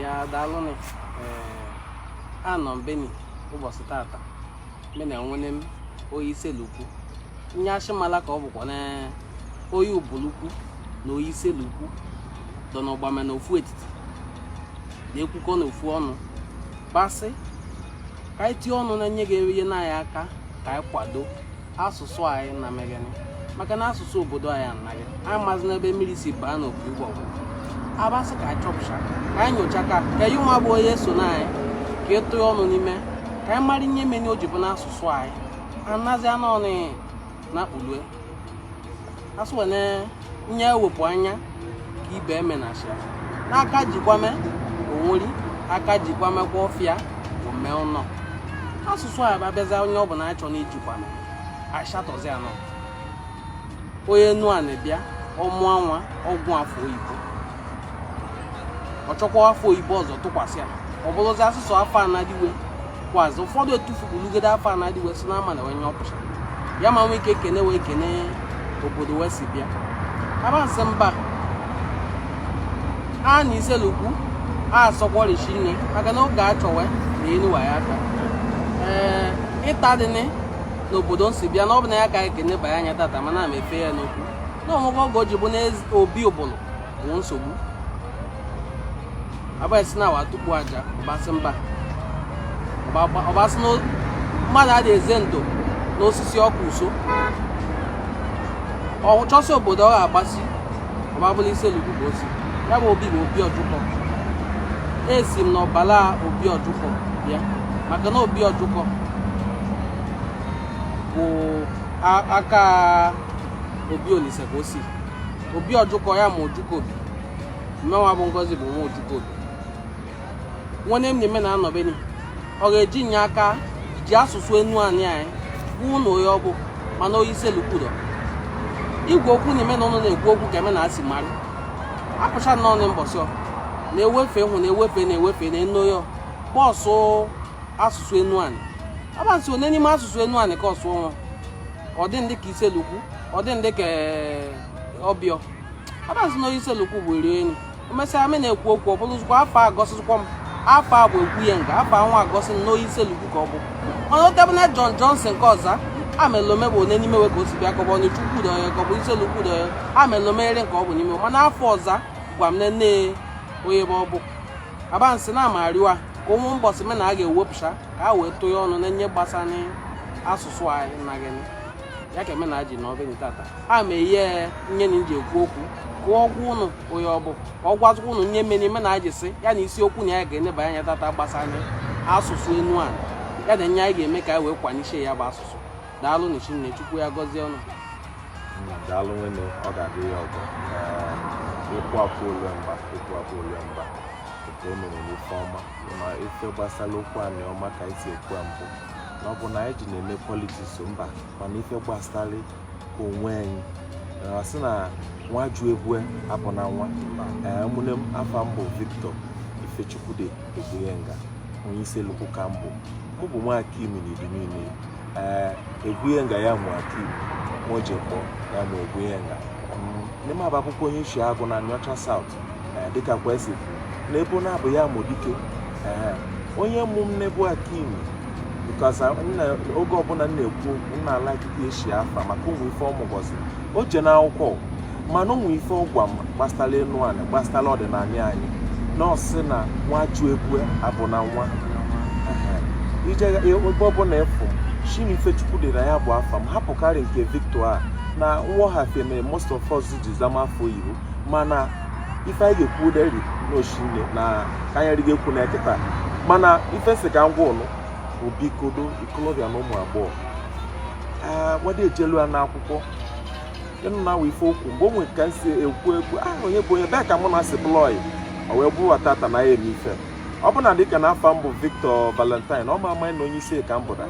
ya daalụnụ anọ m beni ụbọsị tata me na nwene m oyi iselukwu nye a shị mala ka ọ bụkwa na oyi ubulukwu na oyi iselukwu dọ n'ọgbame na ofu etiti na-ekwukọ na ofu ọnụ basị ka anyị tie ọnụ na nye ga-eyeni anyị aka ka anyị kwado asụsụ anyị na megani maka na asụsụ obodo anyị anaghị anyị amazị n'ebe mmiri si baa n'opi ụgbọ abasị ka anyị chọpụcha ka anyị nyocha ka ka anyị nwa bụ onye so na anyị ka ịtụ ya ọnụ n'ime ka anyị mara ihe meni o ji bụ na asụsụ anyị anazi anụ ọnụ na kpulue asụwene nye ewepụ anya ka ibe eme na asịa n'aka jikwame onweri aka jikwame kwa ọfịa ome ụnọ asụsụ anyị abịazi onye ọ bụla anyị chọ na ijikwame ashatọzi anọ onye Enuani bịa ọ mụọ nwa ọ gụọ afa oyibo ọ chọkwa afa oyibo ọzọ tụkwasị ya ọ bụrụzi asụsụ afa nnadi we kwazi ụfọdụ etufugolugode afa nnadi we si n'ama na onye ọpụcha ya ma nwee ike ekene wee kene obodo wee si bịa abasị mba a na iselukwu a asọkwọrichi nne maka na oge a chọwe na enuwa ya aka ee ịta dịnị n'obodo nsi bịa na ọ bụ na ya ka ekene banye anyị tata mana m efe ya n'okwu na onwego oge o ji bụ na Obi Ubulu nwe nsogbu abasị na awa tupu aja ọbasị mba ọbasị mmadụ adị eze ndo n'osisi ọkụ uso ọ chọsị obodo ọ ga-agbasi ọbabụla Iselukwu bụ osi ya bụ obi bụ obi ọjụkọ esi m n'ọbala obi ọjụkọ bịa maka na obi ọjụkọ bụ aka obi olise ka o si obi ọjụkọ ya ma ojukobi mmenwa bụ ngozi bụ nwa ojukobi nwene m na-eme na anọbeni ọ ga-eji nye aka ji asụsụ Enuani anyị kwuo na onye ọ bụ mana oyi Iselukwu dọ igwe okwu na-eme na ụnụ na-ekwu okwu ka eme na asị mara apụcha na ọnụ mbọsị na-ewefe hụ na-ewefe na-ewefe na enu ya bọọsụ asụsụ Enuani abasị one n'ime asụsụ Enuani ka ọ sụ ọnwa ọ dị ndị ka iselukwu ọ dị ndị ka ọbịọ abasị na oyi Iselukwu bụ eri enyi emesịa me na-ekwu okwu ọ bụrụzikwa afa agọsịzikwa m afa a bụ ekwu ya nga afa nwa agọsị na oyi Iselukwu ka ọ bụ mana otebe na John Johnson ka ọ za amalọ m bụ one n'ime we ka o si bịa ka ọ bụ Ọnịcha Ukwu dị onye ka ọ bụ Iselukwu dị onye amalọ m ere nke ọ bụ n'ime mana afa ọ za gwa m nne onye ebe ọ bụ abansị na amariwa ka ụmụ mbọsị me na a ga-ewepụcha ka a wee tụnye ọnụ na nye gbasara asụsụ anyị na gịnị ya ka eme na ji na ọbịa tata a ma ihe nye na ji ekwu okwu ka ọ gwa ụnụ onye ọ bụ ka ọ gwazikwa ụnụ nye mere ime na ji sị ya na isiokwu na ya ga-eneba anya tata gbasara asụsụ Enuani ya na nye anyị ga-eme ka anyị wee kwanyechie ya bụ asụsụ daalụ na chinne chukwu ya gọzie ụnụ daalụ nwene ọ ga-adị ya ọgọ ịkwụ akwụ ole mba ịkwụ akwụ ole mba nke o mere n'ife ọma ma ife gbasara okwu anyị ọ ma ka anyị si ekwu mbụ na ọ bụ na anyị ji na-eme politiks mba mana ife gbasara onwe anyị a sị na nwa jụ ebo ya abụna nwa ụmụnne m afa m bụ Victor Ifechukwude Egwunyenga onye Issele-Uku ka m bụ mụ bụ nwa Akim n'idi niile ee Egwunyenga ya mụ Akim Mojekpọ ya mụ Egwunyenga nne m abụ akwụkwọ onye Isheagu na Anịọcha South eh, dịka kwesị n'ebo na-abụ ya mụ Dike eh, onye mụ m n'ebo Akim because uh, oge ọbụla m na-ekwu okwu nna ala akịka eshi afa maka ụmụ ife ọmụgọzi o je n'akwụkwọ mana ụmụ ife ọ gwa m gbasara Enuani gbasara ọdịnala anyị na ọ sị na nwa jụ ebo ya abụna nwa i je ebe ọbụla ị fụ shi n'Ifechukwude ya bụ afa m hapụkarị nke Victor a na nghọghafie mere most of us ji zama afọ oyibo mana ife anyị ga-ekwu deri n'oshinne na ka anyị rịga ekwu na kịta mana ife si ka m gwa ụnụ bụ biko ndị ikolobịa na ụmụ agbọghọ wada ejelu ya n'akwụkwọ ịnụ na awa ife okwu mgbe o nwere ka m si ekwu ekwu aha onye bụ onye bee ka mụ na si blọị o wee bụrụ tata na ya eme ife ọ bụ na dịka na afa m bụ Victor Valentine ọ ma ama na onye isi ka m bụra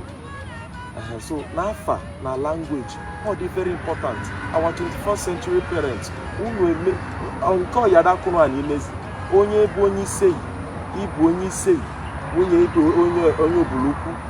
so n'afa na language ọ dị very important our 21st century parents unu eme nke ọyadakụrụ anyị imezi onye bụ onye iseyi ị bụ onye iseyi nwunye ị bụ onye Ubulu-Uku